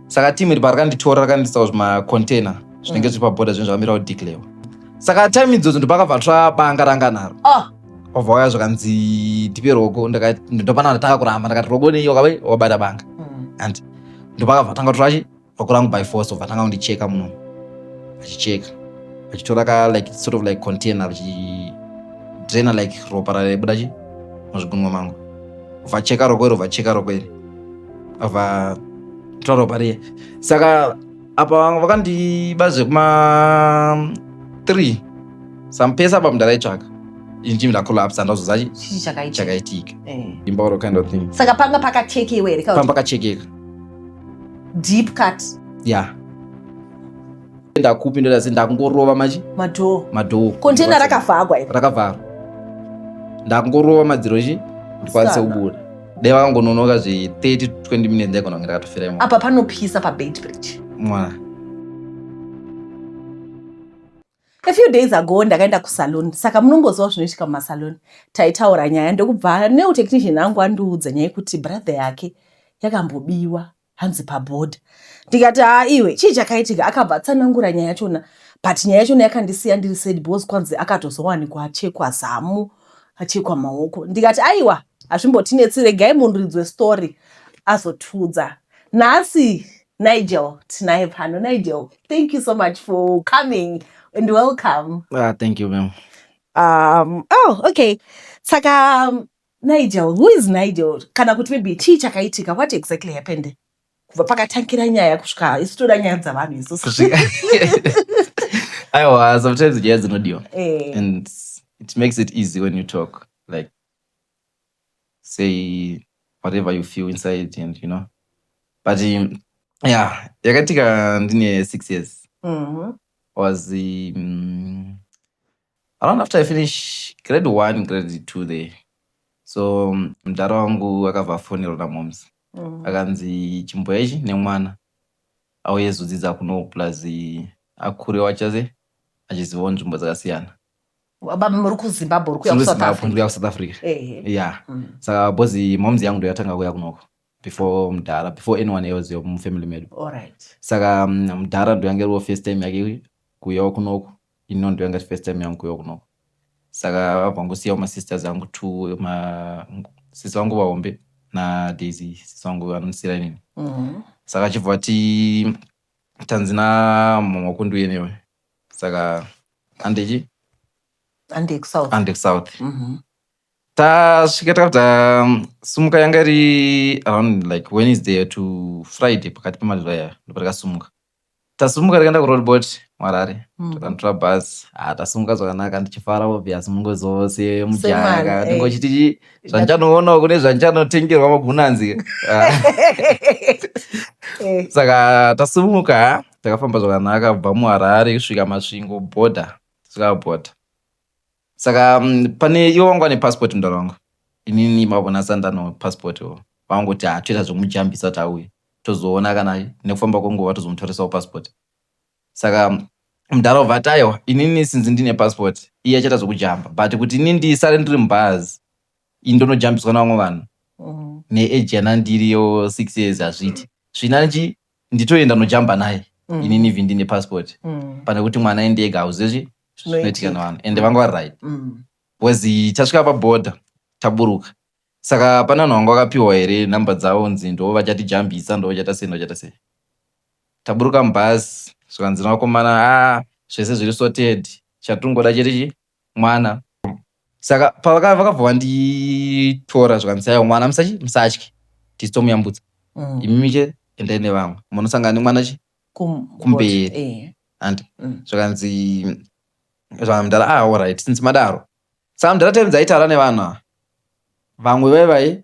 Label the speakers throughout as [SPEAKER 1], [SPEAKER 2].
[SPEAKER 1] saka team iri parakanditora rakandisawo zvimacontainer zvinenge zviri paboda zvinhu zvakamirawo declare saka time idzodzo ndopakabva tsvabanga ranga naro Ah. wabva waya zvakanzi tipe rogo ndakati ndopana ndatanga kuramba ndakati rogo nei wakabe wabata banga and ndopakabva tanga turachi rogo rangu by force obva tanga kundicheka muno achicheka achitora ka like sort of like container achidraina like ropa raibuda chi muzvigunwa mangu vacheka rogo iro vacheka rogo iri ava taura pariye saka apa vanga vakandiba zvekuma three sampesa apa mundaraitsvaka inji ndakolapsa ndazoza chii chakaitika chakaitika Eh. imba or kind of thing saka panga pakachekewa
[SPEAKER 2] here pamba pakachekeka deep cut ya
[SPEAKER 1] Enda kupi ndoda sei ndakungorova machi? Madhoo. Madhoo. Container rakavhagwa
[SPEAKER 2] iri. Rakavharwa.
[SPEAKER 1] Ndakungorova madziro chi? Ndikwanise kubuda. Dai vakangononoka zve 30 to 20 minutes ndaigona kunge ndakatofira imwe. Apa panopisa pa
[SPEAKER 2] Beitbridge. Mwana. A few days ago ndakaenda kusalon saka munongoziva zvinoitika mumasalon taitaura nyaya ndokubva neutechnician angu andiudza nyaya yekuti brother yake yakambobiwa hanzi paboard ndikati haa iwe chii chakaitika akabva atsanangura nyaya yachona but nyaya yachona yakandisiya ndiri said bos kwanzi akatozowanikwa achekwa zamu achekwa maoko ndikati aiwa hazvimbotinetsi regai munhu ridzwe story azotiudza nhasi nigel tinaye pano nigel thank you so much for coming and welcome ah, thank you ma'am
[SPEAKER 1] um, oh
[SPEAKER 2] okay saka um, Nigel, who is Nigel? Kana kuti maybe chii chakaitika, what exactly happened? Kubva pakatangira nyaya kusvika isu toda nyaya dzavanhu isusu.
[SPEAKER 1] Aiwa, sometimes nyaya dzinodiwa. Eh. And it makes it easy when you talk like say whatever you feel inside and you know. But um, yeah, yakatika ndine 6 years. Mhm. was um, Around after I finish grade one, grade two there. So mm, mdhara wangu akabva afonerwa namoms. Mm. Akanzi chimboya ichi nemwana auye zodzidza kuno plus eh, akure wachaze achizivawo nzvimbo dzakasiyana. Baba
[SPEAKER 2] muri kuZimbabwe uri kuya Tiri kuSouth kuZimbabwe, Africa. ndiri kuya kuSouth Africa.
[SPEAKER 1] Ehe. Yeah. Mm. Saka bozi moms yangu ndoyatanga kuya kunoko. before mudhara before anyone else yomufamily medu Alright. saka mm,
[SPEAKER 2] mudhara
[SPEAKER 1] ndoyange riwo first time yake kuyawo kunoku ino ndoyanga iri first time yangu kuyawo kunoku saka vabva ngosiyawo masisters angu two ma sisi vangu vahombe nadaisy sisi vangu vanondisira inini Mhm. saka achibva ati tanzi namama wako ndiuye newe saka andechi Ande kusouth. ande kusouth Mhm. tasvika takabva simuka yanga iri around like wednesday to friday pakati pemazuva aya ndopa takasumuka tasumuka takaenda kuroadbot mwarare mm. takanditora bhazi ha ah, tasumuka zvakanaka ndichifara obvious mungo zose mujaka eh. ndingo chiti zvandichanoona kune zvandichanotengerwa magunanzi ah. eh. saka tasumuka takafamba zvakanaka kubva muharare kusvika masvingo border tisvika border saka mm, pane iwo vanga vane passport mudhara wangu inini mavona sandano passport iwo vangoti ha toita zvomujambisa kuti auye tozoona kana nekufamba kwenguva tozomutorisawo passport saka mm, mudhara uvati aiwa inini sinzi ndine passport iye achaita zvokujamba but kuti ini ndisare ndiri mubhazi ini ndonojambiswa navamwe vanhu neage yanandiriyo six years hazviiti zvinanji nditoenda nojamba naye mm. inini vhi ndine passport mm. pane kuti mwana aende ega hauzezvi zvinoitika navanhu ende vanga vari right mm. bcause tasvika paboda taburuka saka pane vanhu vanga vakapiwa here number dzavo nzi ndo vachatijambisa ndo vachata sei ndovachata sei taburuka mubhazi zvikanzi navakomana a ah, zvese zviri sorted chatingoda chete chi mwana saka pavaka- vakabva vanditora zvikanzi aiwa mwana musachi musatye tisu tomuyambutsa Mm. imimi che endai nevamwe munosangana nemwana chi Kum- Kumberi. what? Eh. and Mm. zvikanzi zvamdara ah alright since madaro saka mdara times aitaura nevanhu ava vamwe vaivai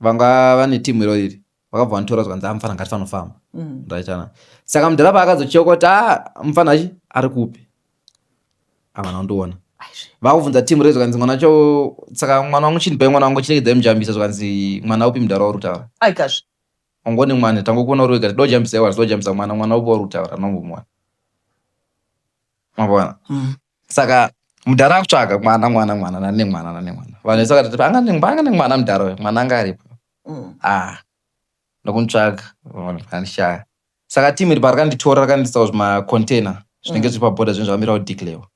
[SPEAKER 1] vanga vane timu iro iri vakabva vanitora zvikanzi ah, mfana ngatifanofamba mm. ndaitana saka mudhara paakazochokota ah, mfana achi ari kupi avana undiona vakubvunza timu rezo kanzi mwana cho saka mwana wangu chini pai mwana wangu chiregedzai mujambisa zvikanzi mwana upi mudhara wari kutaura
[SPEAKER 2] ongoni mwana
[SPEAKER 1] tangokuona uri wega tidojambisa iwa tidojambisa mwana mwana upi wari kutaura nongomuwana mavona mm. saka mudhara akutsvaga mwana mwana mwana nane mwana nane mwana vanhu vese vakati panga ne- panga nemwana mudhara uyo mwana anga aripo Mm. ah ndokunitsvaga vanishaya saka team iri parakanditora rakandiisa kuzvimacontainer zvinenge zviri paboda zvinenge zvakamira kudeclarewa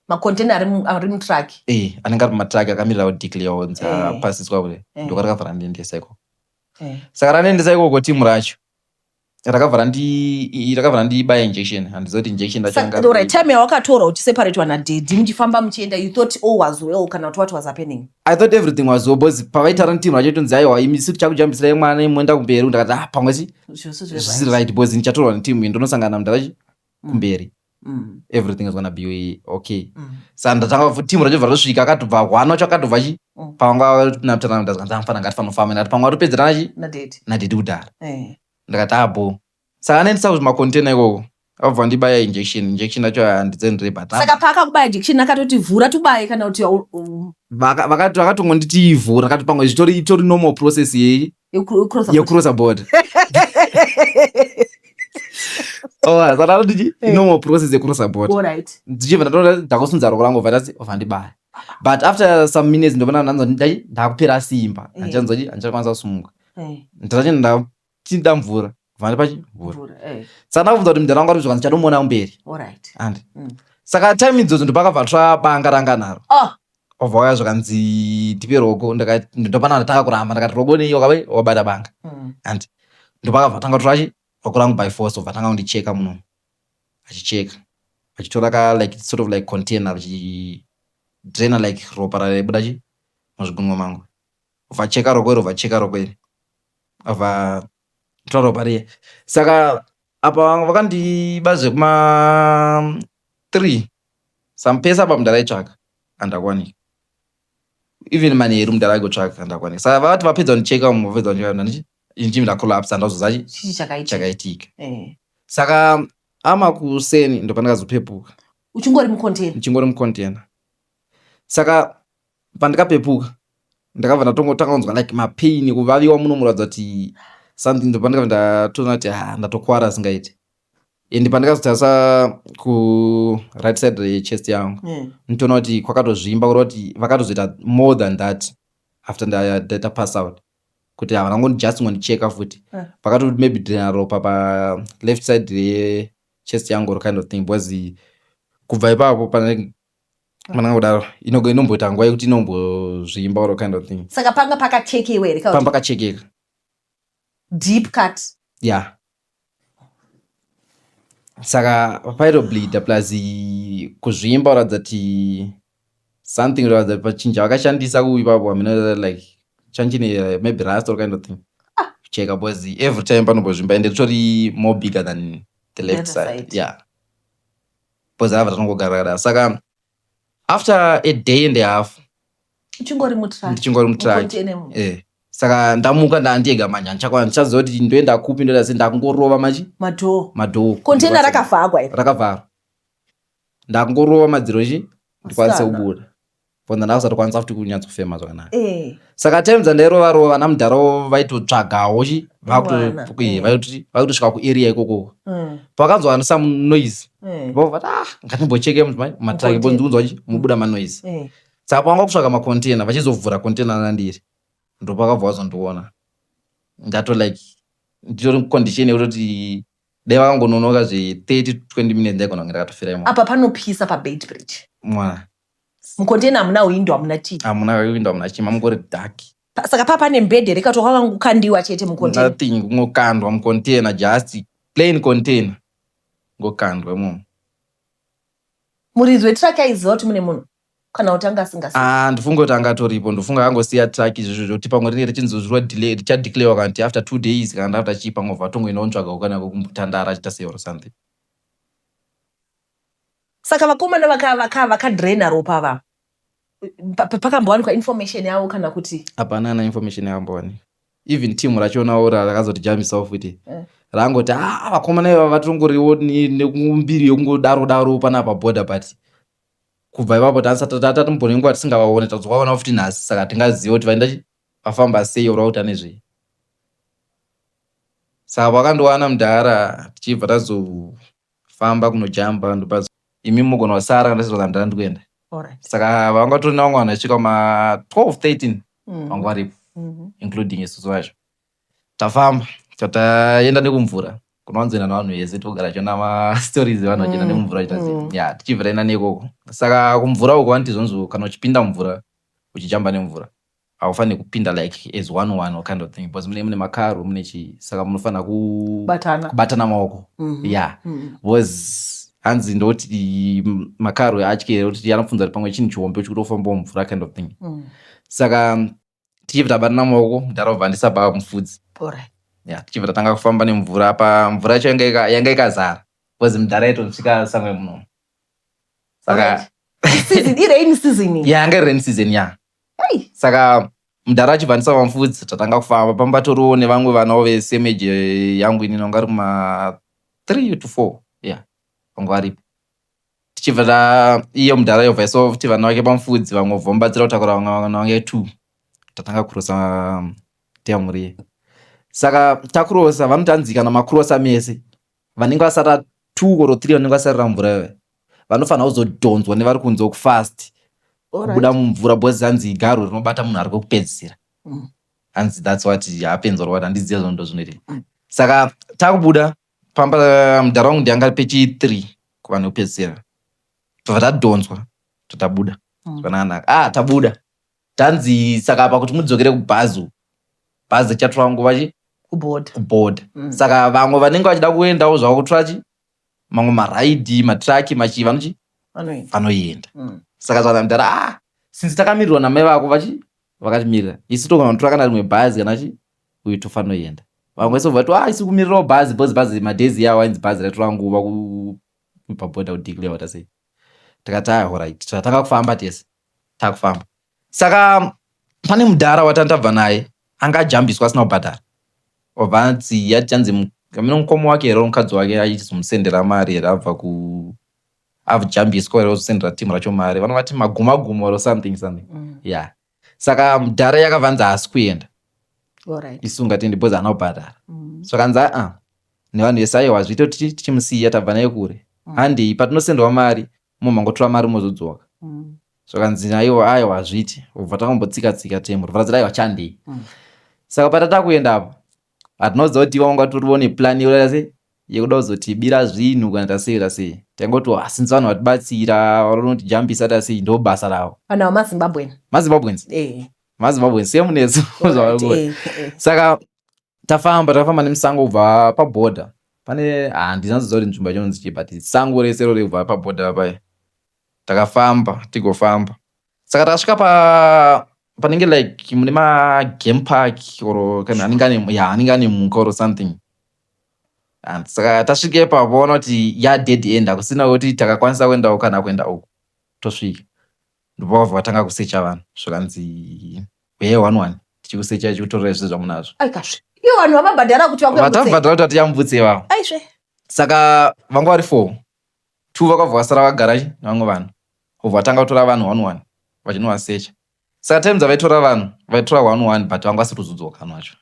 [SPEAKER 1] macontainer
[SPEAKER 2] ari mu- ari mutruck eh anenge ari pamatraki
[SPEAKER 1] akamirira kudeclarewa kunzi Eh. apasiswa kule Eh. ndokarakabva randiendesa ikoko Eh. saka randiendesa ikoko team racho rakabva randi rakabva randibaya injection handiziva kuti injection racho yanga Saka, alright, time
[SPEAKER 2] yawakatorwa uchiseparatewa nadhedhi muchifamba muchienda you thought all was well kana kuti what was happening i thought everything was
[SPEAKER 1] well because pavaitaura ntinhu racho tonzi aiwa imi siri chakujambisira mwana imoenda kumberi ndakati ah pamwe chi Zvose zvisiri zvevaiti right because ndichatorwa neteam iyi ndonosangana namdharachi kumberi everything is gonna be okay sa ndatanga fu team rachobva rosvika akatobva hwana wacho akatobva chi Mm. pavanga napitana ndazi kanzi amfana ngatifanofamba ndati pamwe atopedzerana chi nadheti nadhidi kudhara Eh. ndakati abo saka anoendesa kuzvimakontena ikoko akabva ndibaya injection injection yacho handidzendirei but saka paakakubaya jection
[SPEAKER 2] akatoti vhura tubaye kana kuti au- u- Vaka- vakati-
[SPEAKER 1] vakatongonditivhura akati pamwe zvitori itori normal process yeyi yekurosa boda saka oh, nditi eh. inomo process yekurosa boda ndichibva ndatoona ndakosunza roko rangu vati ova ndibaya but after some minutes ndovona ndanzwa ndakupera simba eh. handichanzwa handichanzwa handichanzwa sumuka eh. ndatachienda ndachida mvura kubva ndipachivhura saka ndakabvunza kuti mudhara wanga ari zvikanzi chatomuona kumberi andi mm. saka time idzodzo ndopakabva tsva banga ranga naro ah! obva waya zvikanzi ndipe rogo ndopana ndatanga kuramba ndakati rogo nei wakave wabata banga mm. andi ndopakabva tanga torachi rogo rangu by force obva tanga kundicheka muno achicheka achitora ka like sort of like container achidraina like ropa raibuda chi muzvigunwa mangu obva cheka rogo iri obva cheka rogo iri obva taura pariye saka apa vanga vakandiba zvekuma three sampesa apa mudhara aitsvaka andakwanika even manheru mudhara aikotsvaka andakwanika saka vati vapedza kundicheka umu vapedza kundicheka ndanditi injimi ndakolapsa ndazoza chi- chii chakaitika chakaitika Eh. saka ama kuseni ndopandakazopepuka uchingori mucontainer
[SPEAKER 2] ndichingori
[SPEAKER 1] mucontainer saka pandikapepuka ndakabva ndatongotanga kunzwa like mapain ekuvaviwa muno muratidza kuti something ndopandikabva ndatoona kuti ha ndatokuvara asingaiti and pandikazotarisa kuright side rechest yangu mm. nitoona kuti kwakatozvimba kureva kuti vakatozoita more than that after ndaita pass out kuti havana ngoni just ngondicheka futi eh. vakatoti maybe drena ropa paleft side rechest yangu or kind of thing because kubva ipapo pane mananga kudaro inoga inomboita nguva yekuti inombozvimba or kind of thing saka panga pakachekewa
[SPEAKER 2] here panga pakachekeka deep cut ya yeah.
[SPEAKER 1] saka pairobleeda plus kuzvimba kuratidza kuti something kuratidza kuti pachinja vakashandisa kuuyi papo amina like chanchine eh, maybe rust or kind of thing ah. kucheka because every time panombozvimba ende ritori more bigger than the left side ya yeah. because ava tanongogara kadaro saka after a day and a half uchingori
[SPEAKER 2] mutraki ndichingori mutraki
[SPEAKER 1] eh saka ndamuka ndandiega manje handichakwana ndichaziva kuti ndoenda kupi ndoita sei ndakungorova machi madhoo madhoo container rakavhagwa
[SPEAKER 2] rakavharwa
[SPEAKER 1] ndakungorova madziro chi ndikwanise kubuda for ndanga usati kwanisa futi kunyatsofema zvakanaka eh. saka time dzandairova rova vana mudharawo vaitotsvagawo chi eh. vaitosvika kuarea ikoko mm. pakanzwa some noise eh. vovati ah ngatimbocheke matraki bonzwa chi mubuda manoise saka pavanga kusvaka macontainer vachizovhura container nandiri ndopakabva wazondiona ndato like nditori condition yekutoti dai vakangononoka zve 30 20 minutes ndaigona kunge ndakatofira imo apa panopisa pabait
[SPEAKER 2] bridge mwana
[SPEAKER 1] mucontainer
[SPEAKER 2] hamuna hwindo hamuna chii hamuna hwindo hamuna chii
[SPEAKER 1] mamungori dark saka paa pane
[SPEAKER 2] mbhedhe here kato kwakanga kukandiwa chete mucontainer nothing kungokandwa
[SPEAKER 1] mucontainer just plain container ngokandwa imomo muridzi
[SPEAKER 2] wetraki aiziva kuti mune munhu kana kuti anga asingasi ah, ndofunga kuti anga atoripo
[SPEAKER 1] ndofunga akangosiya traki izvozvo zvokuti pamwe rinenge richinzozvirwa delay richadeclarewa kana kuti after two days kana after chii pamwe vatongoenda ontsvaga kukanako kumbutandara achiita seor something
[SPEAKER 2] Saka vakomana vaka vaka vaka drainer ropa ava pa- pa- pakambowanikwa information yavo kana kuti hapana kana information
[SPEAKER 1] yakambowanikwa even team rachionawo ra- rakazoti jamisa off kuti Eh. rangoti ah vakomana ivava vatongoriwo ni- nekumbiri yokungodaro daro panapa border but kubva ipapo tatatomboona nguva tisingavaone tazovaona futi nhasi saka tingaziva kuti vaenda chi- vafamba sei ora kuti ane zvei saka vakandowana mudhara tichibva tazo Famba kunojamba ndopa. Imi mogona kusara kana ndisati ndandira ndikuenda. Alright. Saka vanga vatori nevamwe vanhu vachisvika ma 12 13 Mm. vanga varipo Mhm. including isusu vacho. Tafamba so taenda nekumvura kunowanzoenda navanhu vese togara tichiona mastories evanhu vachienda Mm, nemumvura vachita sei. mm. ya tichibvira enda neikoko saka kumvura uko vanoti zvonzi kana uchipinda mumvura uchijamba nemvura haufanire kupinda like as one one or kind of thing because mune mune makaro mune chii saka munofanira Batana. kubatana maoko Mhm. yeah Mhm. was hanzi ndoti makaro atyere kuti anopfunza kuti pamwe chinhu chihombe uchikuti ofambawo mvura kind of thing Mhm. saka mm, tichibva tabatana maoko mudhara obva andisabhaa mufudzi Alright. yeah, tichibva tatanga kufamba nemvura apa mvura yacho yanga ika- yanga ikazara bcause mudhara aitosvika samwe muno saka Alright.
[SPEAKER 2] Season, irain season iyi. yeah, yanga iri rain season ya
[SPEAKER 1] Hey, saka mudhara achibva ndisava mfudzi tatanga kufamba pamba toriwo nevamwe vanawo vesemeji eh, yangu ini nonga ari kuma three to four yeah vangu varipo tichibva ta iye mudhara yobva isova futi vana vake pamufudzi vamwe vobva mubatsira kutakura vamwe vana vange two tatanga kurosa teyamuriye saka takurosa vanotanzika namakurosa mese vanenge vasara two or three vanenge vasarira mvura iyoyo vanofanira kuzodhonzwa nevari kunze kufast kubuda mumvura bcause hanzi igaro rinobata munhu ari kwekupedzisira mm. hanzi thats what happens or what handiziva zvono ndozvinoitika mm. saka takubuda pamba eh, mudhara wangu ndianga pechi three kuvanhu vekupedzisira tobva tadhonzwa totabuda mm. zvakanaka ah tabuda tanzi saka apa kuti mudzokere kubhazi uku, bhazi richatora nguva chi kubhodha kubhodha Mm. saka vamwe vanenge vachida kuendawo zvavo kutora chi mamwe maraidhi matraki machii vanochi vanoenda vanoenda Mm. saka zvana mudhara ah since takamirirwa namai vako vachi vakatimirira isu tokanotora kana rimwe bhazi kana chi uyu tofanoenda vamwe so vati ah isu kumirirawo bhazi bhozi bhazi madhezi yawo ainzi bhazi raitora nguva ku- pabhodha kudeclare wata sei tikati ah horait tatanga kufamba tese takufamba saka pane mudhara watantabva naye anga ajambiswa asina kubhadhara obva anzi yachanzi kamino mukoma wake here mukadzi wake aizomusendera mari here abva ku avujambiswa here ozosendera timu racho mari vanovati maguma guma or something something mm. yeah saka mudhara yakavanzi haasi kuenda right. isu ungatende because ana kubhadhara mm. so kanzi aa nevanhu vese aiwa zviito tichimusiya tabva naye kure mm. handei patinosenderwa mari Mumwe mangotora mari mozodzoka. Mm. Zvakanzi aiwa aiwa hazviti obva takambotsika tsika temu rivara zira aiwa chandei. Mm. Saka patata kuenda apo hatina kuziva kuti iva wanga toriwo neplan yokuda sei yekuda kuzotibira zvinhu kana tasei tasei taingoti oh, since vanhu vatibatsira vanotijambisa tasei ndo basa ravo vanhu ava mazimbabwen
[SPEAKER 2] mazimbabwens eh.
[SPEAKER 1] mazimbabwens semunesu eh, eh. saka tafamba takafamba nemusango kubva paborder pane handina ziva kuti nzvimbo yacho inonzi chii but sango rese rori kubva paborder papaye takafamba tigofamba saka takasvika pa panenge like mune magame park or kana anenge ane ya anenge ane mhuka or something and saka tasvike pavoona kuti ya dead end hakusina kuti takakwanisa kuenda uku kana kuenda uku tosvika ndipo vabva vatanga kusecha vanhu zvikanzi huyai one one tichikusecha tichikutorerai zvese zvamunazvo aikazve iyo vanhu
[SPEAKER 2] vamabhadhara kuti vatabhadhara kuti vatiyambutse
[SPEAKER 1] ivavo aizve saka vanga vari four two vakabva vasara vagara nevamwe vanhu obva vatanga kutora vanhu one one vachinovasecha saka time dzavaitora vanhu vaitora one one but vanga vasiri kuzodzoka vanhu vacho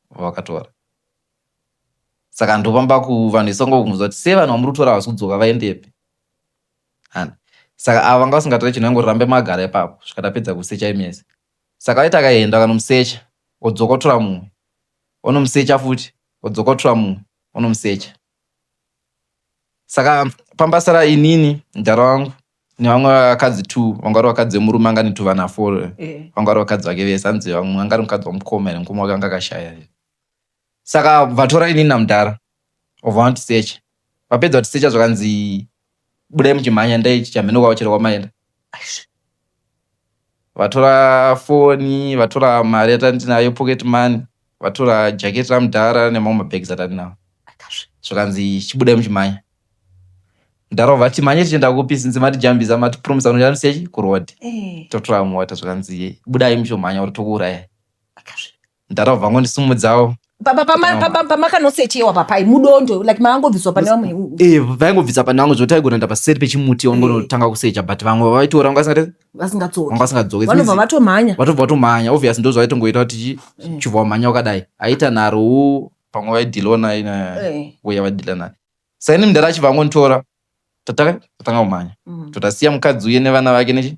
[SPEAKER 1] vavakatora saka ndopamba ku vanhu vese vanga vakunzwa kuti sei vanhu vamuri kutora havasi kudzoka vaendepi and saka ava vanga vasingatore chinhu vangoti rambe magara ipapo kusvika tapedza kusecha imese saka vaiti akaenda kanomusecha odzoka otora mumwe onomusecha futi odzoka otora mumwe onomusecha saka pamba sara inini mdhara wangu nevamwe vakadzi two vanga vari vakadzi vemurume anga netuvana four vanga vari vakadzi vake vese hanzi vamwe anga ari mukadzi wamukoma here mukoma wake anga akashaya here Saka vatora inini namudhara obva vanotisecha. Vapedza kutisecha zvakanzi budai muchimhanya endai chichamheno kwavo chero kwamaenda. Aisve. Vatora foni, vatora mari yatandinayo pocket money, vatora jacket ramudhara nemamwe mabags atandinawo. Akasve. Zvakanzi chibudai muchimhanya. Mudhara obva ati mhanye tichienda kupi since matijambisa matipromisa kuti muchandisiya chi kuroad. Eh. Totora mota zvakanzi budai muchomhanya or tokuurayai. Akasve. Ndara vabva vangondisumudzawo. Papa pama papa pama
[SPEAKER 2] kanosechewa papai mudondo like maangobviswa pane vamwe. Eh vaingobvisa pane
[SPEAKER 1] vamwe zvoti aigona ndapa seri pechimuti wangotanga kusecha but vamwe vaitora vanga singati Vasingatsoki. vanga singadzoke. Vanobva vatomhanya.
[SPEAKER 2] Vatobva vatomhanya
[SPEAKER 1] obvious ndozva vaitongoita kuti chibva wamhanya wakadai. Aita nharo wo pamwe vaidhilawo naye na Eh. uya vadhila naye. Saini mdara achibva angonditora tatanga tatanga kumhanya. Mm. Totasiya mukadzi uye nevana vake nechi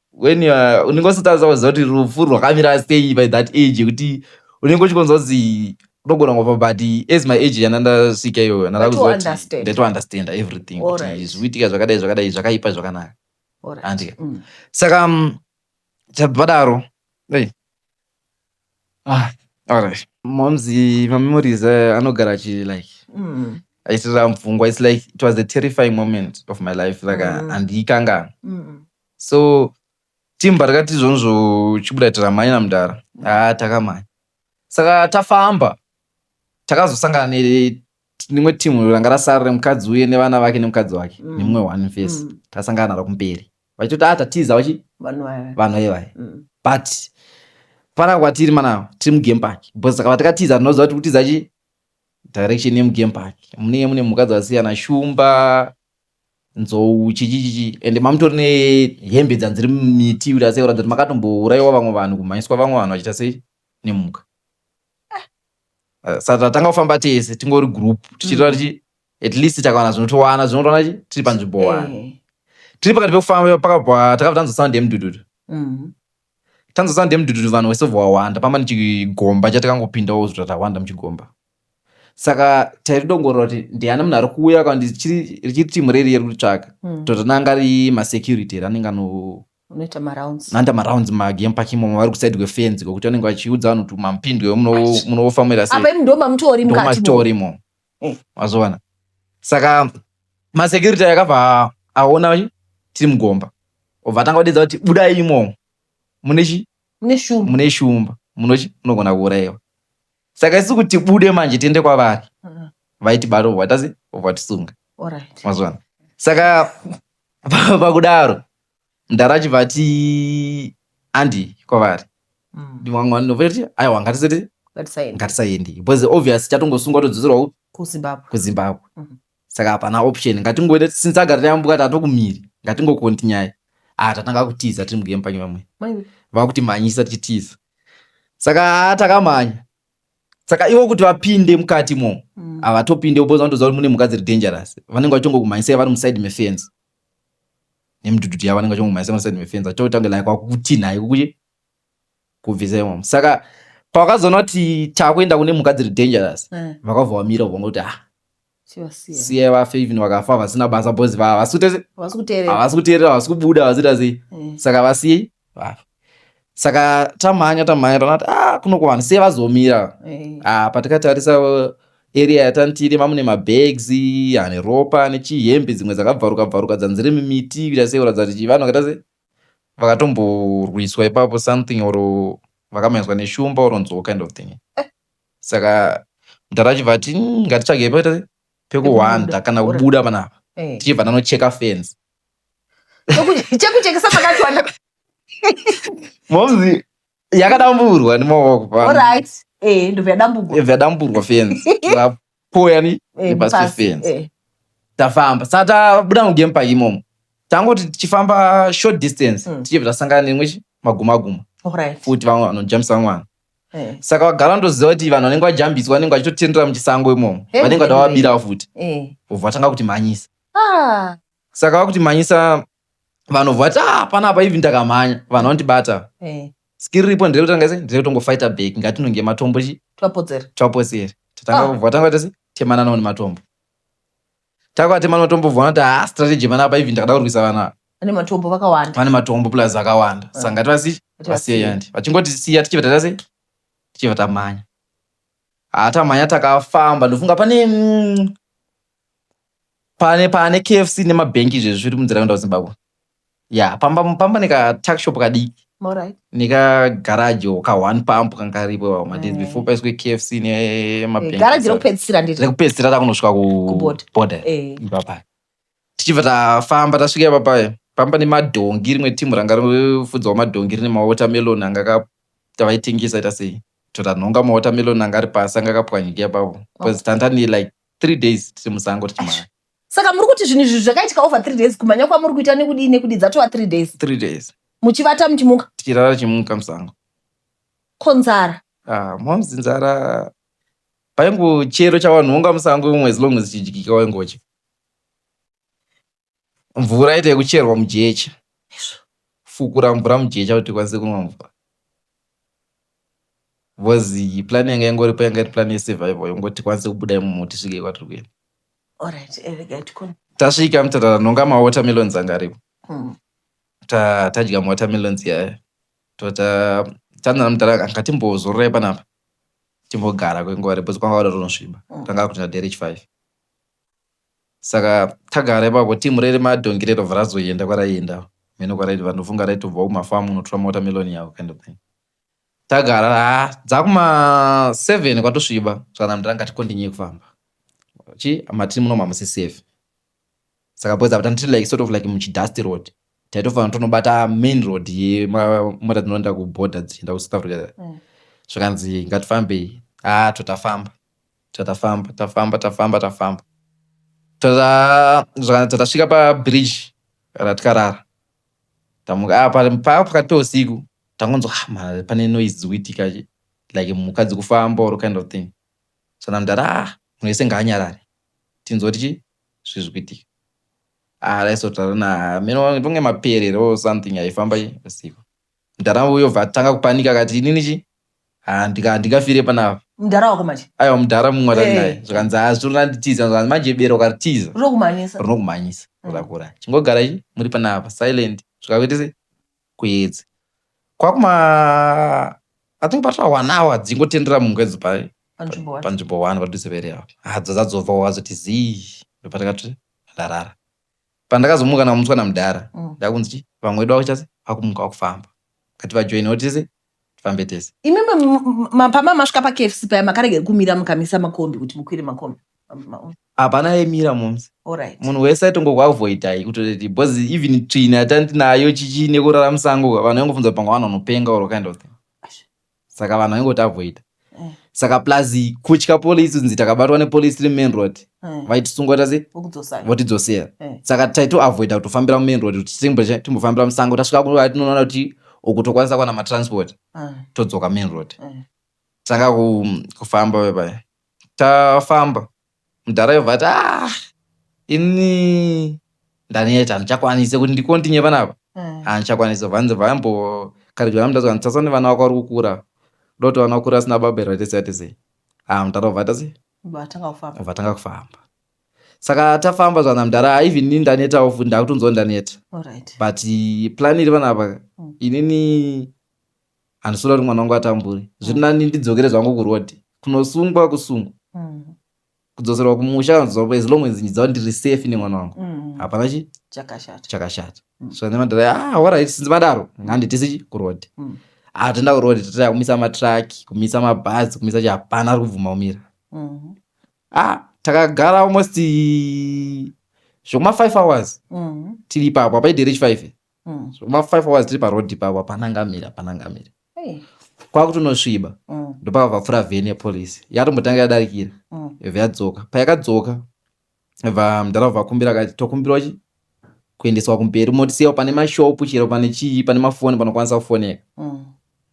[SPEAKER 1] when you are- unenge usatadza kuziva kuti rufu rwakamira sei by that age yekuti unenge uchikonza kuti unogona kufa but as my age yana ndasvika iyoyo yana But ndakuziva kuti understand.
[SPEAKER 2] ndatounderstanda
[SPEAKER 1] everything kuti Alright. zviri kuitika zvakadai zvakadai zvakaipa zvakanaka Alright. Andika. Mm. saka mm, chadaro hey. ah, alright. moms mamemories eh, anogara achi like Mm. achitirira mupfungwa its like it was a terrifying moment of my life like Mm. mm. andiikanga Mm. So team patakati izvonzvo chibuda tiramhanye namdara haa takamhanya saka tafamba takazosangana ne rimwe team ranga rasara remukadzi uye nevana vake nemukadzi wake Mm. nemumwe one face Mm. tasangana naro kumberi vachitoti ah tatiza vachi Vanhu vaya. vanhu ivaya Mm. but pana kwatiri mana tiri mugame park because saka patakatiza tinoziva kuti kutiza chi direction yemugame park munenge mune mhuka dzakasiyana shumba nzou chichichichi ende mamutori nehembe dzanzi dziri mumiti kuti asi kuratidza kuti makatombouraiwa vamwe vanhu kumhanyiswa vamwe vanhu vachiita sei nemhuka saka tatanga kufamba tese tingori group tichitora tichi at least takawana zvinotowana zvinotowana chi tiri panzvimbo one Eh, tiri pakati pekufamba pakabva takabva tanzwa sound yemudududu mm. tanzwa sound yemudududu vanhu vese vawanda pamba nechigomba chatakangopindawo zvotatawanda muchigomba saka tairidongorora kuti ndiani munhu ari kuuya ka richiri timu reri yeri kuritsvaga hmm. totonanga ri masecurity eri anenge
[SPEAKER 2] anoita marounds magame park
[SPEAKER 1] imomo vari kusaidi kwefenzi kwekuti vanenge vachiudza vanhu kuti mamupindwe munofamira seimatorimo eh. mazoona saka masecurity akabva aona tiri mugomba obva atanga kudedza kuti budai imomo mune chi mune shumba munochi munogona kuurayiwa saka isi kuti bude manje tiende kwavari mm. vaiti bari obva tasi obva tisunga mazwana saka pakudaro mdara achibva ati andi kwavari mm. ndimwamwa ndinovaiti aiwa ngatisati ngatisaendi because obvious chatongosungwa todzoserawo kuzimbabwe mm-hmm. saka hapana option ngatingoita since agara tayambuka tatokumiri ngatingokontinyai ah tatanga kutiza tiri mugame panye vamwe vakuti manyisa tichitiza saka haa takamhanya saka ivo kuti vapinde mukati mo mm. havatopinde uboza vandoziva kuti mune mhuka dziri dangerous vanenge vachongokumhanyisai vari muside mefence nemidhudhudhu yavo vanenge vachongokumhanyisai muside mefence vachotanga like wakutinhai kukuye kubvisai mamo saka pavakazoona kuti takuenda kune mhuka dziri dangerous eh. vakabva vamira vanga kuti ha ah, siyai vafe even vakafa vasina basa bos havasi kuteerera havasi kubuda vazita sei eh. saka vasiyei vafe saka tamhanya tamhanya tanati a ah, kunokwana siye vazomira a eh. ah, patikatarisa uh, area yatantiri mamune mabags ane ropa ane chihembe dzimwe dzakabvaruka bvaruka dzanzire mimiti kuita sei kuratidza kuti vanhu vakaita sei vakatomborwiswa ipapo something or vakamhanyiswa neshumba or nzoo kind of thing eh. saka mdhara achibva ati "Mm, ngatitsvage pe- pekuhwanda kana kubuda panapa Eh. tichibva tanocheka fence Cheku- chekuchekesa
[SPEAKER 2] pakachwanda momzi
[SPEAKER 1] yakadamburwa nemaoko pano. Alright. Eh, ndobva yadambugwa. yabva yadamburwa fence Tikapo. poyani Eh, nepasi pasi, pefenzi eh. tafamba saka tabuda mugame park imomo tangoti tichifamba short distance Mm. tichibva tasangana neimwe chi- magumaguma Alright. futi vamwe vanojambisa mwana Eh, saka vagara ndoziva kuti vanhu vanenge vajambiswa vanenge vachitotendera muchisango imomo Hey, vanenge hey, vatavabira futi eh. vobva vatanga kuti mhanyisa Ah, saka vakuti manyisa vanhu vati ah, hapana apa even takamhanya vanhu vanotibata Eh, skiri ripo ndiri kutanga sei ndiri kutongofighta back ngatinonge matombo chi twapodzera twapotseri tatanga Ah. kubva tanga tese temananawo nematombo takwatemana matombo bvona kuti ha strategy mana apa even ndakada kurwisa vana ava. vane matombo vakawanda vane matombo plus akawanda Ah. saka ngati vasi Kuti vasiye vasiye. yandi vachingoti siya tichibva taita sei tichibva tamhanya ha tamhanya takafamba ndofunga pane mm, pane pane kfc nemabhenki izvezvi zviri munzira kuenda kuzimbabwe ya pamba pamba nekatuck shop kadiki Alright. nekagaraji or kahone pump kanga karipo madays Eh. before paiswe kfc Eh, Garaji nemabhenki rekupedzisira ndiri. rekupedzisira takunosvika Kuborder. kuborder Eh. ipapa tichibva tafamba tasvika ipapa pamba nemadhongi rimwe timu ranga rifudzawo madhongi rine mawatermelon anga ka- tavaitengesa ita sei totanhonga mawatermelon anga ari pasi anga akapwanyika ipapo bcause tantani like three days tiri musango tichimhanya saka muri kuti
[SPEAKER 2] zvinhu izvi zvakaitika over three days kumhanya kwamuri kuita nekudii nekudii dzatova three days three days muchivata muchimuka tichirara tichimuka musango
[SPEAKER 1] ko
[SPEAKER 2] nzara ah, momzi
[SPEAKER 1] nzara paingo chero chawanhonga musango imwe as long as chidyika waingochi mvura ite yekucherwa mujecha fukura mvura mujecha kuti tikwanise kunwa mvura bcause plan yanga yangoripo yanga iri plan yesurvival yongoti tikwanise kubuda imomo tisvike kwatiri kuenda
[SPEAKER 2] eh, tasvika
[SPEAKER 1] mutata nonga mawatermelons anga aripo hmm. tadya mawatermelons yaya tota tanana mutata anga timbozororai panapa timbogara kwenguva repo kwanga wada tonosviba hmm. tanga kuti naderich five saka tagara ipapo team riri madhongi rero varazoenda kwaraienda mheno kwaraiti vanofunga raitobva kumafamu unotora mawatermelon yavo kind of thing tagara ha dzakuma seven kwatosviba zvakanaka ndiranga tikondinyeye kufamba chi matiri muno mamusi safe saka boys apa tiri like sort of like muchidust road taitofanira tonobata main road yemota dzinoenda kuborder dzichienda kusouth africa mm. zvakanzi ngatifambei ha totafamba Tatafamba tafamba tafamba tafamba tatasvika pabridge ratikarara tamuka paa pakati peusiku tangonzwa ah, pane noise dzikuitika like mhuka dzikufamba or kind of thing so namdara ah, munhu wese ngaanyarare tinzwa tichi zvi zvikuitika ah, raisotaura na meno tonge maperero or something aifamba usiku Mdara uyo bva atanga kupanika akati inini chi haa ndika handingafire panapa. Mdara wako manje?
[SPEAKER 2] Aiwa mdara mumwe watari Eh.
[SPEAKER 1] naye zvikanzi haa zvino randitiza zvikanzi manje bere ukaritiza Rinokumhanyisa. rinokumhanyisa Mm. rakura chingogara i muri panapa silent zvikakuita sei kuedza kwakuma i think patova one hour dzingotendera mumwe edzo pa Panzvimbo wacho. panzvimbo one padhuze pere apo hadzo dzadzobva wazoti zii ndopatakati ndarara pandakazomuka ndakamutswa namudhara mm. ndakunzi chi vamwe wedu vakuchase vakumuka vakufamba kati vajoinawo tese tifambe tese imi
[SPEAKER 2] mapama masvika pakfc paya makaregera kumira mukamisa makombi kuti mukwire makombi hapana
[SPEAKER 1] yemira momsi munhu wese
[SPEAKER 2] aitongokuavoidai
[SPEAKER 1] kutoti bcause even tsvina yatandinayo chichi nekurara musango vanhu vaingofunza panga vanhu vanopenga or kind of thing saka vanhu vaingoti avoida eh. saka plus kutya police kunzi takabatwa nepolice tiri main road eh. vaitisunga tase votidzosera eh. saka taitoavoida kutofambira mumain road kuti timboshe timbofambira musango tasvika kuva tinoona kuti uku tokwanisa kuwana matransport todzoka main road saka kufamba vepaya tafamba Mudhara yobva ati ah ini ndaneta handichakwanise kuti ndikontinye panapa mm. handichakwanise ah, vanzi vambo karidzwa namudhara nditsatsa nevana wako vari kukura doti vana vakura asina baba here vatese atese ah mudhara obva atase vatanga kufamba saka tafamba zvana mudhara even ini ndanetawo futi ndakutonzwa ndaneta but plan iri vanapa mm. inini handisoda kuti mwana wangu atambure zviri mm. nani ndidzokere zvangu kuroad kunosungwa kusungwa mm. kudzoserwa kumusha kanozoa as long as ndidzawa ndiri safe nemwana wangu mm. hapana chi chakashata so nemadhara ah warit sinzi madaro nganditisi chi kuroad atenda ah, kuroad tataya kumisa matraki kumisa mabhazi kumisa chi hapana ari kubvuma kumira mm-hmm. ah takagara almost zvekuma five hours mm-hmm. tiri ipapo apaidherechi five Mm. so ma five hours tiri paroad ipapo hapana angamira hapana angamira Hey. kwakutonosviba Mm. ndopava vapfura vheni yepolice yatombotanga yadarikira Mm. yobva yadzoka payakadzoka va mdara vakumbira akati tokumbirwa chi kuendeswa kumberi motisiyawo pane mashopu chero pane chii pane mafoni panokwanisa kufoneka Mm.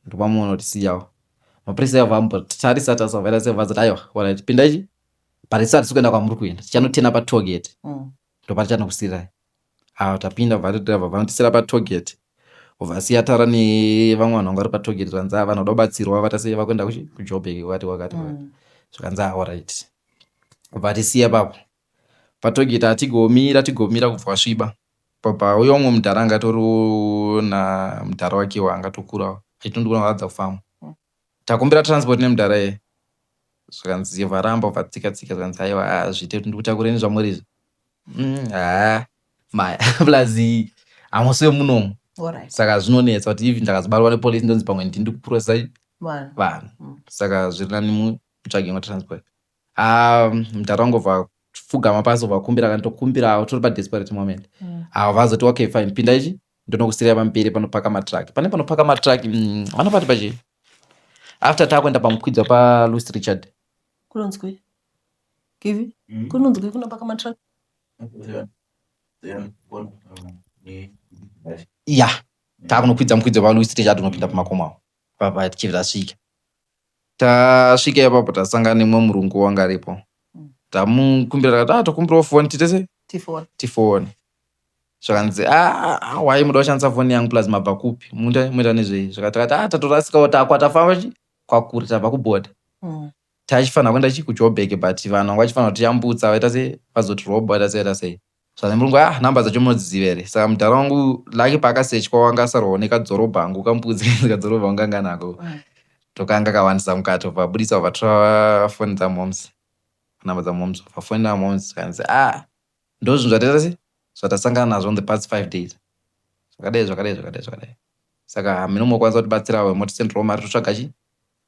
[SPEAKER 1] ndopamuona kuti siyawo mapurisa avo vambotarisa tarisa vairasa vazati aiwa warit pindai chi parisati sikuenda kwamuri kuenda tichanotena patogeti Mm. ndopatichanokusirai Haa tapinda kubva vatoti vabva vanotisira patoget vasiya tara nevamwe vanhu vanga vari patoget zvanzi haa vanhu vada kubatsirwa vatase vakuenda kuchi kujobek kwakati kwakati kwakati zvikanzi haa orit kubva atisiya ipapo patoget haa tigomira tigomira kubva wasviba pabva uya umwe mudhara anga atoriwo namudhara wakewo anga atokurawo achitondiona vaadza kufamba Takumbira transport nemudhara iye zvikanzi varamba ubva tsika tsika zvikanzi aiwa hazviite kuti ndikutakureni zvamuri izvi mm, haa maya plus hamusi vemunomu Alright. saka zvinonetsa kuti even ndakazobatwa nepolice ndonzi pamwe ndini ndikuprocesa vanhu vanhu Mm. saka zviri nani mutsvage imwe transport Ah, mdhara wangu vha fugama pasi vakumbira kana tokumbira avo tiri padesperate moment mm. avo vazoti okay fine pinda ichi ndonokusirira pamberi panopaka matruck pane panopaka matruck mm, vanopati mm, pachi after takuenda pamukwidzwa paluis richard kunonzwi
[SPEAKER 2] kivi mm. kunonzwi kunopaka matruck
[SPEAKER 1] ya takunokwidza mukwidza paluis richard unopinda pamakomo avo papa tichibva tasvika Tasvika ipapo tasangana nemumwe murungu wanga aripo tamukumbira takati ah tokumbirawo foni tiite sei Tifone. tifone zvakanzi "Ah, ah, why muda kushandisa foni yangu plus mabva kupi Muita- muita nezvei zvakati takati ah tatorasikawo takwa tafamba chi- kwakure tabva kubhodha Mm. taichifanira kuenda chi kujoburg but vanhu vanga vachifanira kutiyambutsa vaita sei vazotirobha vaita sei vaita sei Saka murungu ah number dzacho munodziziva here saka mudhara wangu laki paakasechwa wanga asarwawo nekadzorobha angu kambudzi kadzorobha wanga anga nako tokanga kawandisa mukati obva abudisa obva tora foni dzamoms number dzamoms obva foni namoms kanzi ah ndozvinhu zvataita se zvatasangana nazvo on the past five days zvakadai zvakadai zvakadai zvakadai saka hameno mokwanisa kutibatsirawo motisenderawo mari totsvaga chi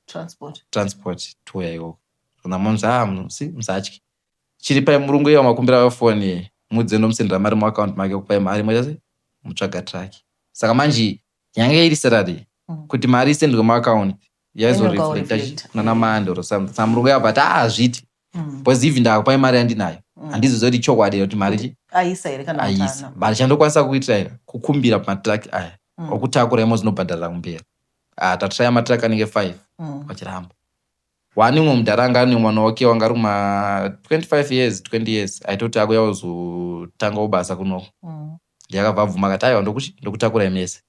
[SPEAKER 1] transport transport touya ikoko zvona moms ah musi musatye chiripai murungu iye wamakumbira vayo foni muudzei ndomusendera mari muaccount make okupai mari imwe chete mutsvaga truck saka manje yange iri salary mm. kuti mari isendwe muaccount yaizoreflecta kunana mande or something sa murungu yabva ti ah, hazviti mm. because even ndakupai mari yandinayo mm. handizoziva kuti chokwadi kuti mari chi aisa here kana
[SPEAKER 2] aisa but chandokwanisa
[SPEAKER 1] kuitira here kukumbira matruck aya okutakura imo zinobhadharira kumberi ah, tatiraya matruck anenge five vachiramba One umwe mudhara anga ane mwana wake wanga ari kuma 25 years 20 years aitoti akuya kuzotangawo basa kunoko ndiye akabva abvuma akati aiwa ndokuti ndokutakurai mese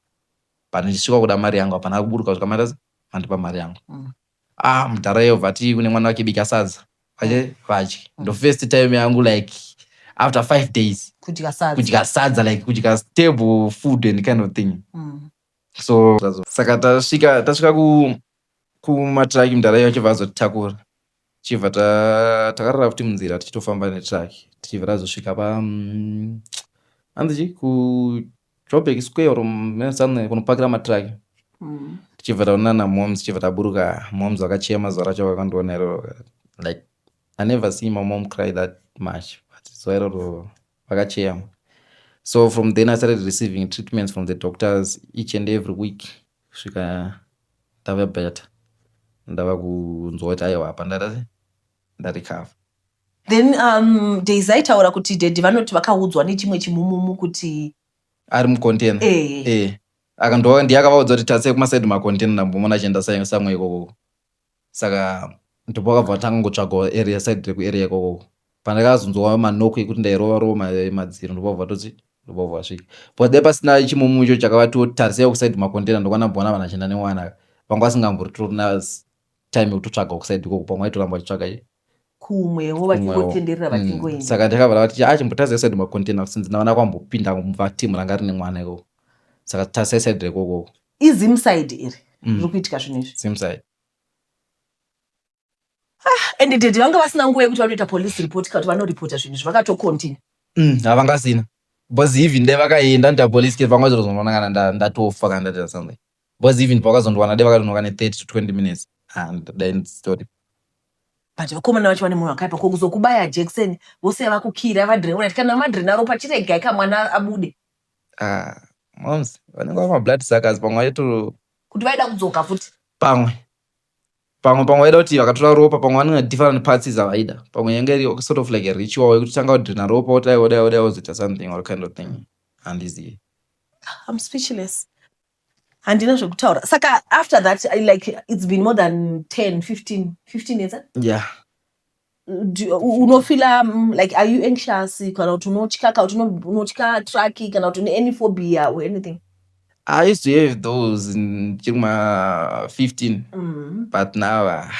[SPEAKER 1] but ndichisvika kuda mari yangu hapana kuburuka kusvika maita sei mandipa mari yangu ah mudhara iye obva ati kune mwana wake bika sadza vache vadye ndo first time yangu like after five days kudya sadza kudya sadza like kudya stable food and kind of thing so saka tasvika tasvika ku kumatraki mudhara iye achibva azotitakura tichibva takarara futi munzira tichitofamba netraki tichibva tazosvika pa mm, hanzi chi kujoburg square or something kunopakira matraki mm. tichibva taonana namoms tichibva taburuka moms vakachema zuva racho vakandiona iroro like i never see my mom cry that much but zuva iroro vakacheyama so from then i started receiving treatments from the doctors each and every week kusvika ndave better ndava kunzwa kuti aiwa apa ndarecover then
[SPEAKER 2] um, daisy aitaura kuti dedi vanoti vakaudzwa nechimwe chimumumu kuti ari
[SPEAKER 1] mucontainer hey. Eh. Eh. hey. akandiye akavaudza kuti tatse kumasaidi macontainer ndambomona achienda samwe ikoko saka ndipo vakabva vatanga ngotsvagawo area side rekuarea ikoko pandakazonzwa manoko ekuti ndairova rova madziro ndobvabva vatoti ndobvabva vasvika bcause dai pasina chimumu icho chakavatiwo tarisai kusaid makontena ndokwana bvona vanhu achienda nemwana vanga vasingamboritotori na time yekutotsvaga kusaid ikoko pamwe aitoramba achiitsvaga kumwewo
[SPEAKER 2] vachingotenderera mm. vachingoenda saka ndakavara vati ah,
[SPEAKER 1] chimbotarisai said macontainer since ndavana kwambopinda kumva team ranga rine mwana ikoko saka tarisai said rekokoko izim side
[SPEAKER 2] iri mm. riri kuitika zvinhu izvi zim side
[SPEAKER 1] ah,
[SPEAKER 2] and dedi vanga vasina nguva yekuti vanoita police report kauti vanoripota zvinhu izvi vakatocontinue mm, havangasina
[SPEAKER 1] bcause even dai vakaenda nda police ke vanga zvirozononangana ndatofa kana ndaita something Boys even pavakazondiwana dai vakadonhoka ne 30 to 20 minutes and dai nditori but
[SPEAKER 2] vakomana vacho vane moyo wakaipa ko kuzokubaya jekiseni vose vakukira vadreura ti kana madrena ropa chiregai ka mwana abude ah
[SPEAKER 1] moms vanenge vama blood suckers pamwe vaito kuti vaida kudzoka
[SPEAKER 2] futi pamwe
[SPEAKER 1] pamwe pamwe vaida kuti vakatora ropa pamwe vanenge different parts dzavaida pamwe yange iri sort of like a ritual yekuti tanga kudrena ropa wodai wodai wodai wozoita something or kind of thing handizivi I'm
[SPEAKER 2] speechless. handina zvekutaura saka after that I, like it's been more than 10 15 15 years eh? yeah
[SPEAKER 1] Do- u-
[SPEAKER 2] unofila mm, like are you anxious kana kuti unotya kana kuti uno- unotya traki kana kuti une any phobia or anything i used to
[SPEAKER 1] have those ndichiri kuma 15 mm. but now ah,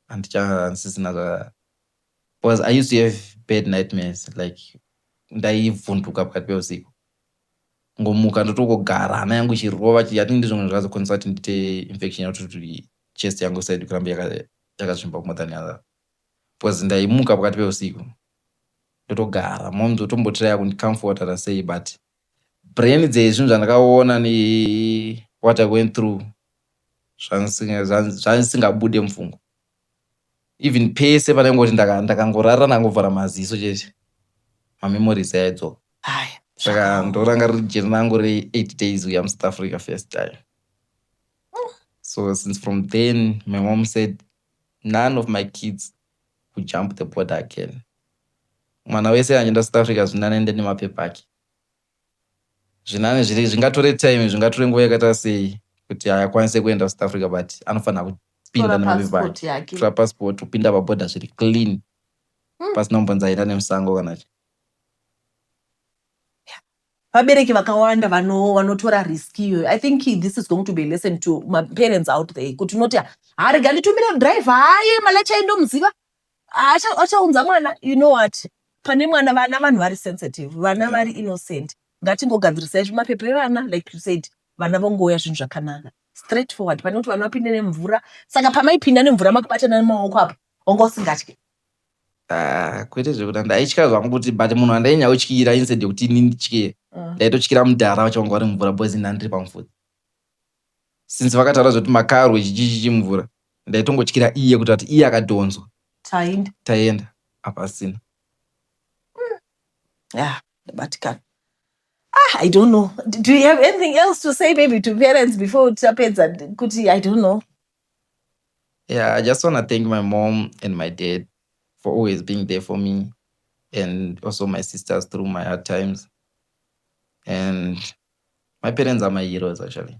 [SPEAKER 1] handichanzisina zva because i used to have bad nightmares like ndaivhunduka pakati peusiku kungomuka ndotongogara hana yangu ichirova i think ndizvo zvimwe zvakazokonzeresa kuti ndiite infection yacho kuti chest yangu isaidi kuramba yakazvimba more than other because ndaimuka pakati peusiku ndotogara mom dzotombotiraya kundicomfortera sei but brain dzezvinhu zvandakaona ne what i went through zvandisingabude mupfungwa even pese panengoti ndakangorara ndangovhara maziso chete mamemories aidzoka saka ndoranga riri jeri rangu re8 days uya musouth africa first time so since from then my mom said none of my kids who jump the border again mwana wese anjenda south africa zvinanende nemapepa ake zvinani zviri zvingatore time zvingatore nguva yakaita sei kuti akwanise kuenda kusouth africa but anofanira kupinda nemavivatora
[SPEAKER 2] passport kupinda
[SPEAKER 1] paboda zviri clean hmm. pasina kumbonzi aenda nemusango kana chi
[SPEAKER 2] vabereki vakawanda vanotora risk iyoyo i think this is going to be a lesson to maparents out there kuti unoti harega nditumire driver haye malacha indomuziva achaunza mwana you know what pane mwana vana vanhu vari sensitive vana vari innocent ngatingogadzirisai zvimapepa evana like you said vana vongouya zvinhu zvakanaka straight forward pane kuti vana vapinde nemvura saka pamaipinda nemvura makubatana nemaoko apo wanga usingatye ah,
[SPEAKER 1] kwete zvekuda ndaitya zvangu kuti but munhu andainya utyira instead yekuti ini nditye mm. ndaitotyira mudhara vachawanga vari mumvura boys inandiri pamufudzi since vakataura zvekuti makarwe chichichichi mvura ndaitongotyira iye kuti ati iye akadhonzwa tainda taienda hapasina
[SPEAKER 2] yeah ndabatikana ah i don't know do do you have anything else to say maybe to parents before tapedza kuti i don't know
[SPEAKER 1] yeah i just want to thank my mom and my dad for always being there for me and also my sisters through my hard times and my parents are my heroes actually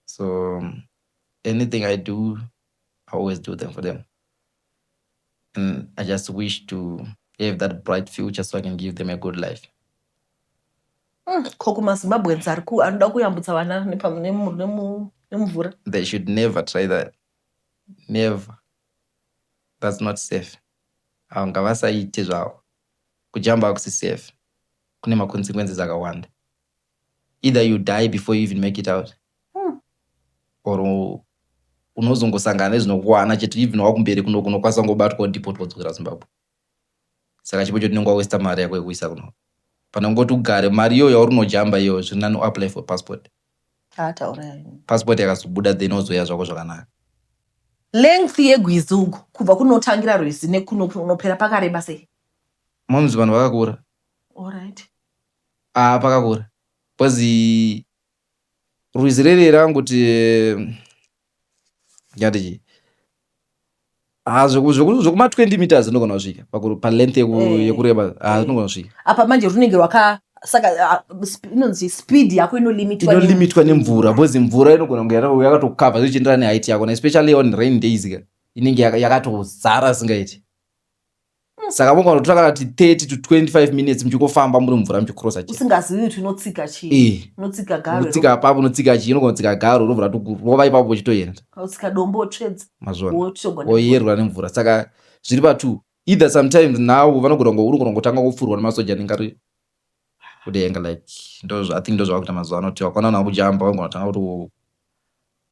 [SPEAKER 1] so anything i do i always do them for them and i just wish to have that bright future so i can give them a good life mm, ko
[SPEAKER 2] kumazimbabweans ari ku anoda kuyambutsa vana nemumvura they should
[SPEAKER 1] never try that never that's not safe avo ngavasaite zvavo kujamba hakusi safe kune ma consequences akawanda either you die before you even make it out hmm. or unozongosangana nezvinokuwana chete even wakumberi kuno kunokwanisa kungobatwa udipotwa kudzokera zimbabwe saka chipo chotinenge wawesta mari yako yekuisa kuno pane kungoti ugare mari iyoyo yauri unojamba iyoyo zviri nani uapply for passport passport yakazobuda then ozoya zvako zvakanaka length
[SPEAKER 2] yegwizi uku kubva kunotangira rwizi nekuno kunopera pakareba sei monzi vanhu
[SPEAKER 1] vakakura
[SPEAKER 2] Alright. Ah
[SPEAKER 1] pakakura. Because rwizi riri rangoti ndingati chii? Ah zveku- zveku- zvekuma 20 meters zvinogona kusvika pakuru- palength yeku- Eh. yekureba ah Eh. zvinogona kusvika. apa manje runenge rwaka
[SPEAKER 2] saka ah, sp- inonzi speed yako inolimitwa ne- inolimitwa
[SPEAKER 1] nemvura because mvura inogona kunge yaka- yakatokava zvichienderana neheight yako na especially on rain days ka inenge yaka- yakatozara singaiti saka mugona kutora kana kuti 30 to 25 minutes muchingofamba muri mumvura muchikrosa usingazivi kuti unotsika
[SPEAKER 2] chii eh. unotsika garo unotsika apapo unotsika chii
[SPEAKER 1] unogona kutsika garo unovhura rova ipapo uchitoenda utsika dombo
[SPEAKER 2] wotsvedza mazvona
[SPEAKER 1] woyerwa nemvura saka zviri patu either sometimes now vanogona unogona kutanga kufurwa nemasoja anenge ari kudenga like ndozva i think ndozvavakuita mazuva ano kuti wakaona vanhu vakujamba vangona tanga kuti wo-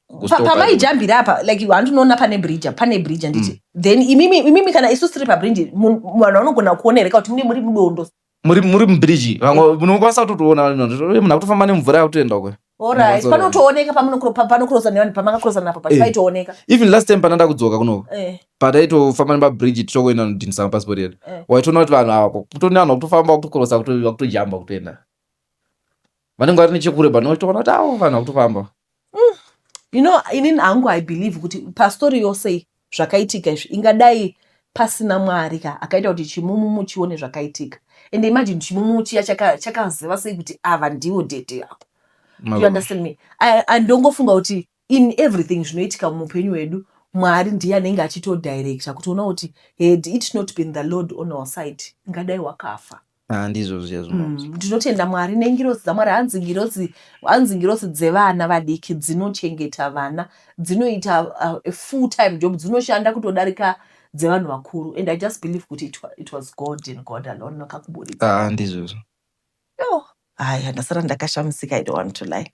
[SPEAKER 1] Pa- kustopa. pamaijambira
[SPEAKER 2] apa like hanti unoona pane bridge apa, pane bridge handiti Mm. then imimi imimi kana isu tiri pabridge mu- vanhu vanogona kuona here ka kuti mune muri mudondo muri muri mubiriji
[SPEAKER 1] vamwe munokwanisa kutotoona munhu akutofamba nemvura yakutoenda kwe Alright, Mabasa panotooneka
[SPEAKER 2] pamunokro- pa- panokurosana nevanhu pamakakurosana napo pacho Eh. paitooneka even last time pandanda
[SPEAKER 1] kudzoka kuno Eh, pataitofamba nemabridge tichokuenda nodhinisa mapasipoti edu Eh. waitoona kuti vanhu ava kutone vanhu vakutofamba vakutokorosa vakuto- vakutojamba kutoenda vanenge vari nechekure but notoona kuti avo vanhu vakutofamba
[SPEAKER 2] you know inini hangu i believe kuti pastori yose iyi zvakaitika izvi ingadai pasina mwari ka akaita kuti chimumumu chione zvakaitika and imagine chimumumu chiya chakaziva sei kuti ava ndiwo dede apo you understand me andongofunga kuti in everything zvinoitika muupenyu hwedu mwari ndiye anenge achitodirecta kutiona kuti had it not been the lord on our side ingadai wakafa Ah, ndizvo zviya
[SPEAKER 1] zvinonzi Mm, ndinotenda mwari
[SPEAKER 2] nengirosi dzamwari hanzi ngirosi hanzi ngirosi dzevana vadiki dzinochengeta vana dzinoita uh, a full time job dzinoshanda kutodarika dzevanhu vakuru and i just believe kuti it, wa- it was god and god alone vakakuburitsa Ah, ndizvo izvo.
[SPEAKER 1] yo haya
[SPEAKER 2] ndasara ndakashamisika i don't want to lie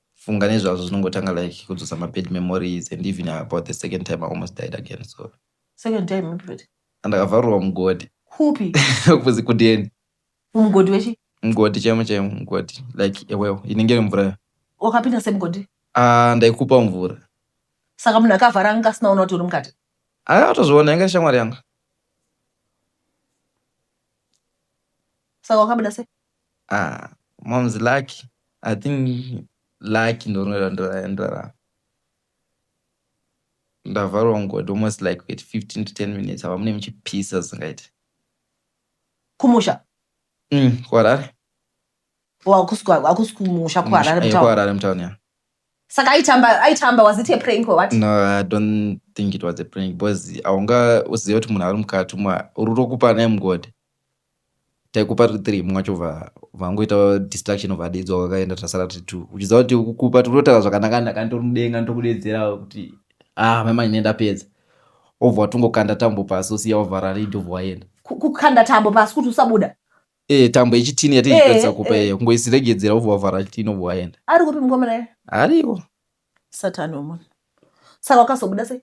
[SPEAKER 1] funga nezvazvo zvinongotanga like kudzosa mabad memories and even about the second time i almost died again so second time ipi
[SPEAKER 2] futi andakavharurwa
[SPEAKER 1] mugodi kupi
[SPEAKER 2] kuzi kudeni
[SPEAKER 1] mugodi wechi
[SPEAKER 2] mugodi chaimo chaimo
[SPEAKER 1] mugodi like ewewo inenge iri mvura wakapinda semugodi ah ndaikupa
[SPEAKER 2] mvura saka munhu akavhara anga asinaona kuti uri mukati aya watozviona yanga
[SPEAKER 1] shamwari yanga
[SPEAKER 2] saka wakabuda sei Ah
[SPEAKER 1] mom's lucky. I think lucky ndorinondorandora. Ndavharwa mugodi almost like with 15 to 10 minutes ava mune muchipisa zvingaite.
[SPEAKER 2] Kumusha? Mm,
[SPEAKER 1] kuHarare. Wakusi
[SPEAKER 2] kumusha kuHarare eh, mutown? KuHarare mutown, yeah.
[SPEAKER 1] Saka aitamba
[SPEAKER 2] aitamba was it a prank or what? No, I don't
[SPEAKER 1] think it was a prank because aunga usiziva kuti munhu ari mukati umu uri rokupa naye mugodi. taikupa tiri three mumwe wacho vangoita distraction of adedzwa wakaenda tasara tiri two uchiziva kuti kukupa tikutotaura zvakanaka naka nditori mudenga nditokudedzera kuti ah maimai ne ndapedza obva watongokanda tambo pasi osiya wavhara ridi obva waenda kukanda tambo pasi
[SPEAKER 2] kuti usabuda Eh, tambo yechitini
[SPEAKER 1] yatiipedza eh, kupa eh. iyo kungoisiregedzera obva wavhara chitini obva waenda ari kupi mukomana
[SPEAKER 2] ariko
[SPEAKER 1] satani
[SPEAKER 2] wemunhu saka wakazobuda sei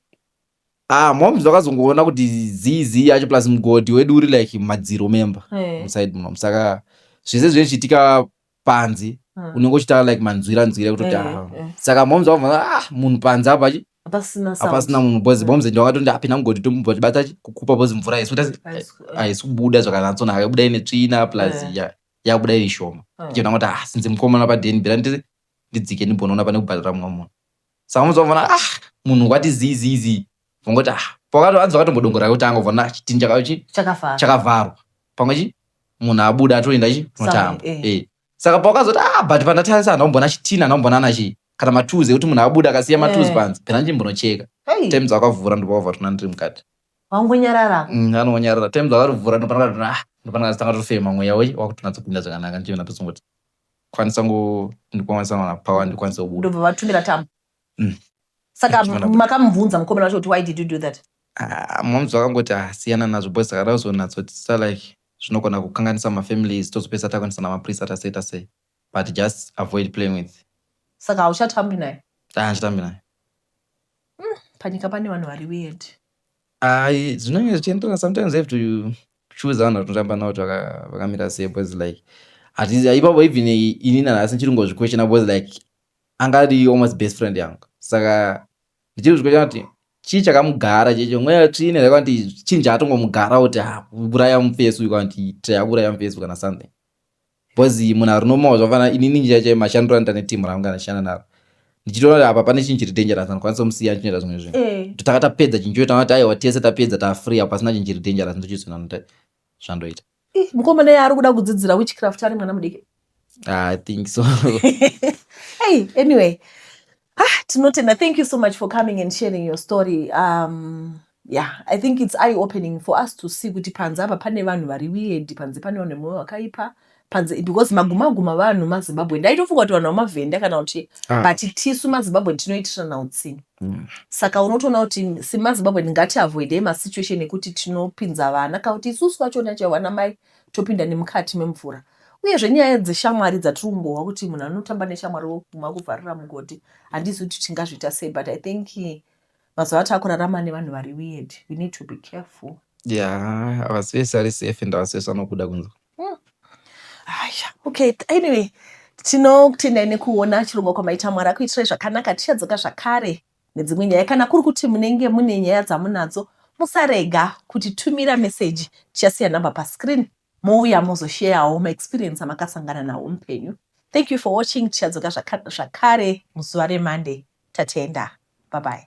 [SPEAKER 2] Ah, moms
[SPEAKER 1] vakazongoona kuti zii zii yacho plus mugodhi wedu uri like mumadziro memba Eh. musaid muno saka zvese zvinenge zvichiitika panze Ah. unenge uchitaura like manzwira nzwira kutoti Eh, ah. eh. saka moms vakabva ah munhu panze apa chi- Hapasina sound. hapasina munhu bhozi Mm. boms ndawakatondi apinda mugodhi tomubva tibata chi- kukupa bhozi mvura yesu Haisi- eh, haisi kubuda zvakanyatsonaka yabuda ine tsvina plus Eh. ya- yabuda iri shoma eh. chona kuti ah sinzi mukomana padeni bhera nditi ndidzike ndimbonoona pane kubhadhara mumwe munhu saka unozovona ah munhu wati zii zii zii vongoti ah pakato hanzi vakatombodongora yekutanga vona ah, chitini chakachi chakafara chakavharwa pamwe chi munhu abuda atoenda chi Somewhere, notamba eh. eh saka pakazoti ah but pandatarisa ndaumbona chitini ndaumbona ana chii kana matuzi ekuti munhu abuda akasiya matuzi Eh. panzi pena ndimbonocheka Hey, times akavhura ndopavova tona ndiri mukati wangonyarara
[SPEAKER 2] Mm, anonyarara
[SPEAKER 1] times akarivhura ndopanakatona ah ndopanakazitanga tofema mweya wei wakutonatsa kupinda zvakanaka ndichiona pesongoti kwanisa ngo ndikwanisa kuwana power ndikwanisa kubuda ndobva vatumira tambo mm.
[SPEAKER 2] saka makamubvunza mukomana wacho kuti why did you do that ah, moms
[SPEAKER 1] vakangoti ah, siyana nazvo boys saka razonatsotisa like zvinogona kukanganisa mafamilies tozopesa takwanisa namaprisa tasei tasei but just avoid playing with saka hauchatambi
[SPEAKER 2] naye ah, handitambi naye
[SPEAKER 1] mm,
[SPEAKER 2] panyika pane vanhu vari weird Ayi
[SPEAKER 1] zvinenge zvichienderana sometimes have to choose vanhu vatinotamba navo kuti vakamira sei because like hatizi ipapo even ini nanhasi ndichiri kungozviquestiona because like anga ari almost best friend yangu saka ndichiri kuzviquestiona kuti chii chakamugara checho mweya tsvine zvaika kuti chinja atongomugara kuti ah, uraya mufesi uyu kana kuti taya uraya mufesi kana something Because munhu ari normal zvakafanana inini chaiye chaiye mashandiro anoita neteam rangu kana ndichishanda naro ndichitoona kuti apa pane chinhu chiri dangerous handikwanisa kumusiya ndichinoita zvimwe zvinhu Eh. kuti taka tapedza chinhu choita kuti aiwa tese tapedza tafree apa pasina chinhu chiri dangerous ndochizoona kuti zvandoita Ih, mukomana yaari
[SPEAKER 2] kuda kudzidzira witchcraft ari mwana mudiki Ah, i think
[SPEAKER 1] so
[SPEAKER 2] hey anyway ah tinotenda thank you so much for coming and sharing your story um yeah i think it's eye opening for us to see kuti panze apa pane vanhu vari weird panze pane vanhu vemoyo wakaipa panze because magumaguma vanhu mazimbabwe ndaitofunga kuti vanhu vamavhenda kana kuti ah. but tisu mazimbabwe tinoitirana utsinhu mm. saka unotoona kuti semazimbabwe ndingati avoidei masituation ekuti tinopinza vana kana kuti isusu vachona chaivo vana mai topinda nemukati memvura. Uyezve nyaya dzeshamwari dzatiri kungohwa kuti munhu anotamba neshamwari woguma kuvharira mugodhi handizi kuti tingazviita sei but i think mazuva ataakurarama nevanhu vari weird we need to be careful ya
[SPEAKER 1] havasi vese ari safe and havasi vese vanokuda kunzwa hmm. aya
[SPEAKER 2] okay anyway tinokutendai nekuona chirongwa kwamaita mwari akuitirai zvakanaka tichadzoka zvakare nedzimwe nyaya kana kuri kuti munenge mune nyaya dzamunadzo musarega kuti tumira meseji tichasiya number pascreen mouya mozosheyawo maexperience amakasangana nawo mupenyu thank you for watching tichadzoka zvakare muzuva remonday tatenda babai